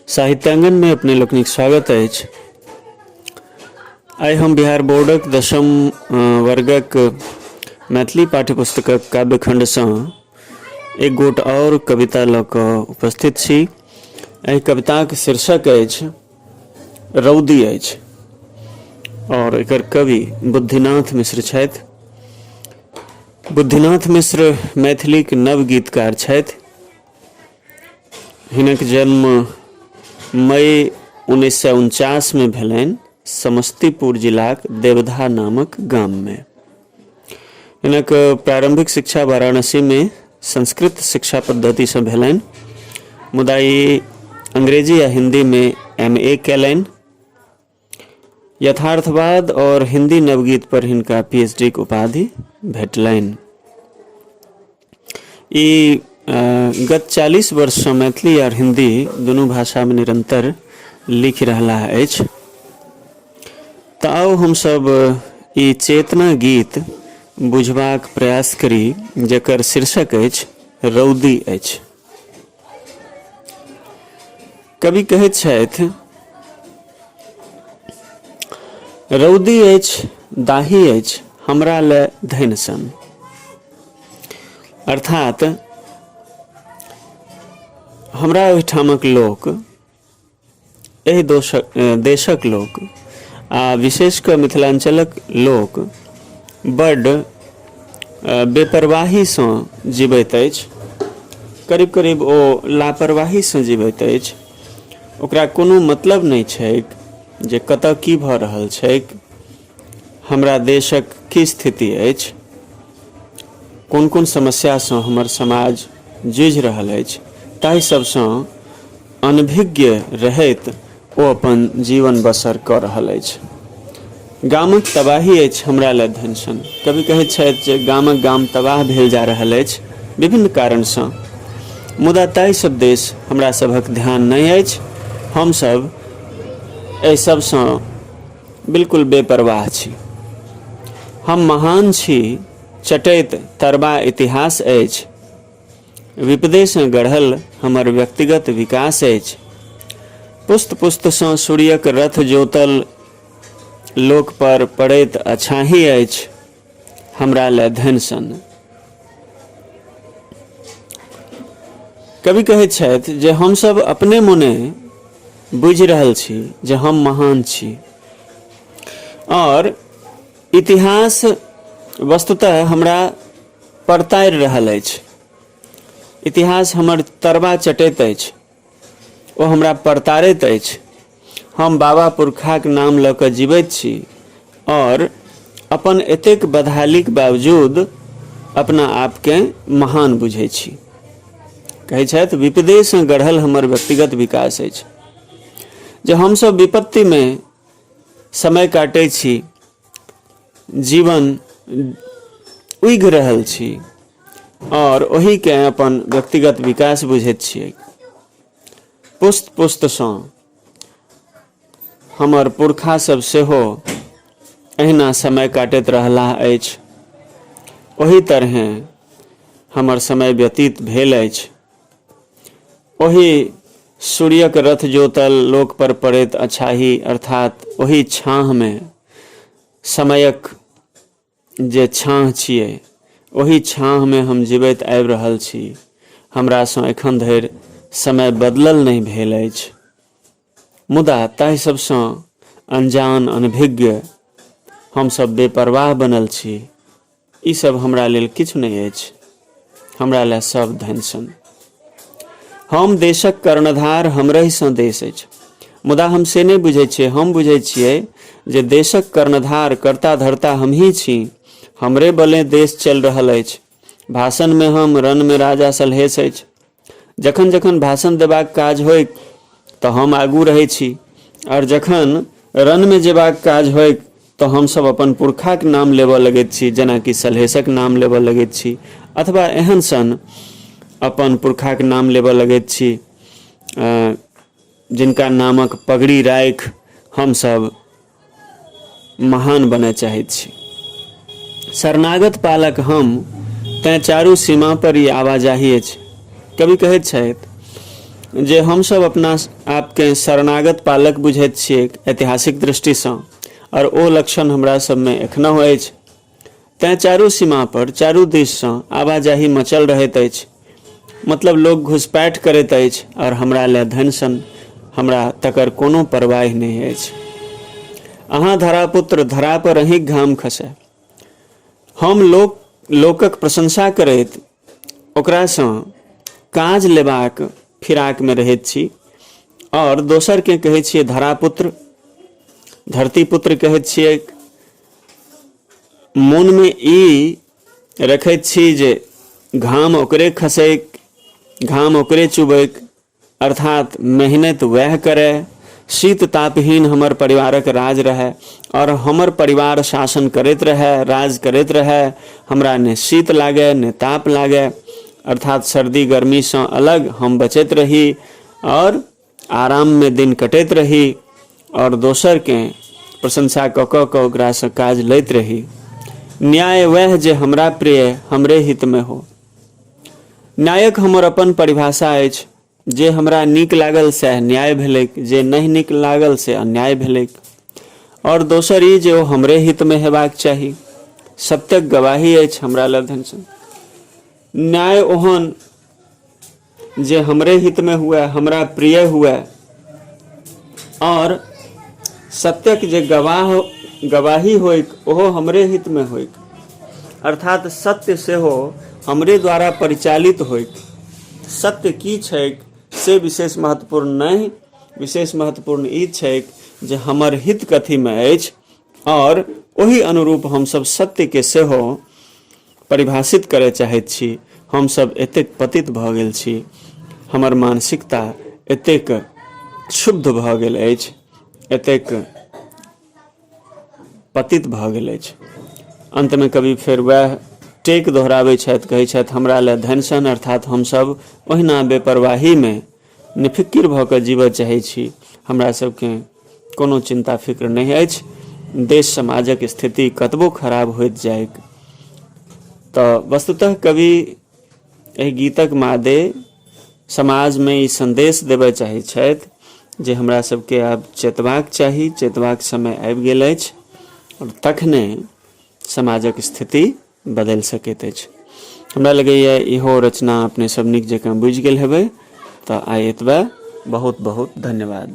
साहित्यांगन में अपने लोकनिक स्वागत है आइ हम बिहार बोर्डक दशम वर्गक मैथिली पाठ्यपुस्तक काव्यखंड से एक गोट और कविता लऽ कऽ उपस्थित छी एहि कविताक शीर्षक अछि रौदी अछि और एकर कवि बुद्धिनाथ मिश्र छथि बुद्धिनाथ मिश्र मैथिलीक नव गीतकार छथि हिनक जन्म मई उन्नैस सए उनचासमे भेलनि समस्तीपुर जिलाक देवधा नामक गाममे हिनक प्रारंभिक शिक्षा वाराणसी में संस्कृत शिक्षा पद्धति से भेलनि मुदा ई अंग्रेजी आ हिंदी में एम ए कैलनि यथार्थवाद और हिंदी नवगीत पर हिनका पीएचडी के उपाधि भेटलनि ई अ, गत 40 वर्ष सँ मैथिली आर हिंदी दुनू भाषा में निरंतर लिखि रहलाह अछि तऽ आउ हमसब ई चेतना गीत बुझबाक प्रयास करी जकर शीर्षक अछि रौदी अछि कवि कहैत छथि रौदी अछि दाही अछि हमरा लए धनि सन अर्थात हमरा ओहिठामक लोक एहि दोषक देशक लोक आ विशेष कऽ मिथिलाञ्चलक लोक बड्ड बेपरवाहीसँ जीबैत अछि करीब करीब ओ लापरवाहीसँ जीबैत अछि ओकरा कोनो मतलब नहि छैक जे कतऽ की भऽ रहल छैक हमरा देशक की स्थिति अछि कोन कोन समस्यासँ हमर समाज जुझि रहल अछि ताहि सभसँ अनभिज्ञ रहैत ओ अपन जीवन बसर कऽ रहल अछि गामक तबाही अछि हमरा लए धनसन कवि कहैत छथि जे गामक गाम तबाह भेल जा रहल अछि विभिन्न कारणसँ मुदा ताहिसभ देश हमरा सभक ध्यान नहि अछि हमसभ एहि सभसँ बिल्कुल बेपरवाह छी हम महान छी चटैत तरबा इतिहास अछि विपदेसँ गढ़ल हमर व्यक्तिगत विकास अछि। पुस्त-पुस्तसँ सूर्यक रथ जोतल लोकपर पड़ैत अछाहि अछि हमरा लए धनि सन। कवि कहैत छथि जे हम सभ अपने मोने बुझि रहल छी जे हम महान छी आओर इतिहास वस्तुतः हमरा परतारि रहल अछि। इतिहास हमर तरबा चटैत अछि। ओ हमरा परतारैत अछि। हम बाबा पुरखाक नाम लऽ कऽ जीबैत छी और अपन एतेक बदहालीक बावजूद अपना आपकेँ महान बुझै छी। कहै छथि विपदेसँ गढ़ल हमर व्यक्तिगत विकास अछि। जँ हमसभ विपत्तिमे समय काटै छी। जीवन उघि रहल छी आओर ओहिके अपन व्यक्तिगत विकास बुझैत छियै पुस्त पुस्तसँ हमर पुरखा सब सेहो अहिना समय काटैत रहलाह अछि ओहि तरहें हमर समय व्यतीत भेल अछि ओहि सूर्यक रथ जोतल लोक पर पड़ैत अछाही अर्थात ओहि छाँहमे समयक जे छाँह छियै ओहि छाँहमे हम जीवैत आबि रहल छी हमरासँ एखन धरि समय बदलल नहि भेल अछि मुदा ताहि सबसँ अनजान अनभिज्ञ हमसभ बेपरवाह बनल छी ई सब हमरा लेल किछु नहि अछि हमरा लए सब धन सन हम देशक कर्णधार हमरहिसँ देश अछि मुदा हम से नहि बुझै छियै हम बुझै छियै जे देशक कर्णधार कर्ता धर्ता हमही छी हमरे बले देश चलि रहल अछि भाषणमे हम रणमे राजा सलहेश अछि जखन जखन भाषण देबाक काज होइक तऽ हम आगू रहै छी आओर जखन रनमे जेबाक काज होइक तऽ हमसभ अपन पुरखाक नाम लेबऽ लगैत छी जेनाकि सलहेशक नाम लेबऽ लगैत छी अथवा एहन सन अपन पुरखाक नाम लेबऽ लगैत छी जिनका नामक पगड़ी राखि हमसभ महान बनय चाहैत छी शरणागत पालक हम तैँ चारू सीमा पर ई आवाजाही अछि कवि कहैत छथि जे हमसभ अपना आपके शरणागत पालक बुझैत छियै ऐतिहासिक दृष्टिसँ आओर ओ लक्षण हमरा सभमे एखनहु अछि तैं चारू सीमा पर चारू दिस सँ आवाजाही मचल रहैत अछि। मतलब लोक घुसपैठ करैत अछि आओर हमरा लए धनि सन हमरा तकर कोनो परवाहि नहि अछि। अहाँ धरापुत्र, धरा पर अहींक घाम खसए। हम लोक, लोकक प्रशंसा करैत ओकरासँ काज लेबाक फिराकमे रहैत छी आओर दोसरके कहै छियै धरापुत्र धरतीपुत्र कहैत छियै मोनमे ई रखैत छी जे घाम ओकरे खसैक घाम ओकरे चुबैक अर्थात मेहनत वह करे शीत तापहीन हमर परिवारक राज रहे और हमर परिवार शासन करैत रहे राज करैत रहे हमरा ने शीत लागे ने ताप लागे अर्थात सर्दी गर्मी से अलग हम बचैत रही और आराम में दिन कटैत रही और दोसर के प्रशंसा कऽ कऽ कऽ ओकरासँ काज लैत रही न्याय वह जे हमरा प्रिय हमरे हित में हो नायक हमर अपन परिभाषा अछि जे हमरा नीक लागल सएह न्याय भेलैक जे नहि नीक लागल से अन्याय भेलैक आओर दोसर ई जे ओ हमरे हितमे हेबाक चाही सत्यक गवाही अछि हमरा लग न्याय ओहन जे हमरे हित में हुए हमरा प्रिय हुए और सत्यक जे गवाह गवाही होइक ओहो हमरे हित में होइक अर्थात सत्य से हो हमरे द्वारा परिचालित होइक सत्य की छैक से विशेष महत्वपूर्ण नहीं विशेष महत्वपूर्ण ई छैक जे हमर हित कथी में अछि आओर ओहि अनुरूप हमसभ सत्यके सेहो परिभाषित करय चाहैत छी हमसभ एतेक पतित भऽ गेल छी हमर मानसिकता एतेक क्षुब्ध भऽ गेल अछि एतेक पतित भऽ गेल अछि अन्तमे कवि फेर वएह टेक दोहराबै छथि कहै छथि हमरा लए धनसन अर्थात हमसभ ओहिना बेपरवाहीमे निफिकिर भऽ कऽ जीबऽ चाहै छी हमरा सबके कोनो चिन्ता फिक्र नहि अछि देश समाजक स्थिति कतबो खराब होइत जाइक तऽ वस्तुतः कवि एहि गीतक मादे समाजमे ई सन्देश देबय चाहै छथि जे हमरा सबके आब चेतबाक चाही चेतबाक समय आबि गेल अछि आओर तखने समाजक स्थिति बदलि सकैत अछि हमरा लगैए इहो रचना अपने सब नीक जकाँ बुझि गेल हेबै तऽ आइ एतबे बहुत बहुत धन्यवाद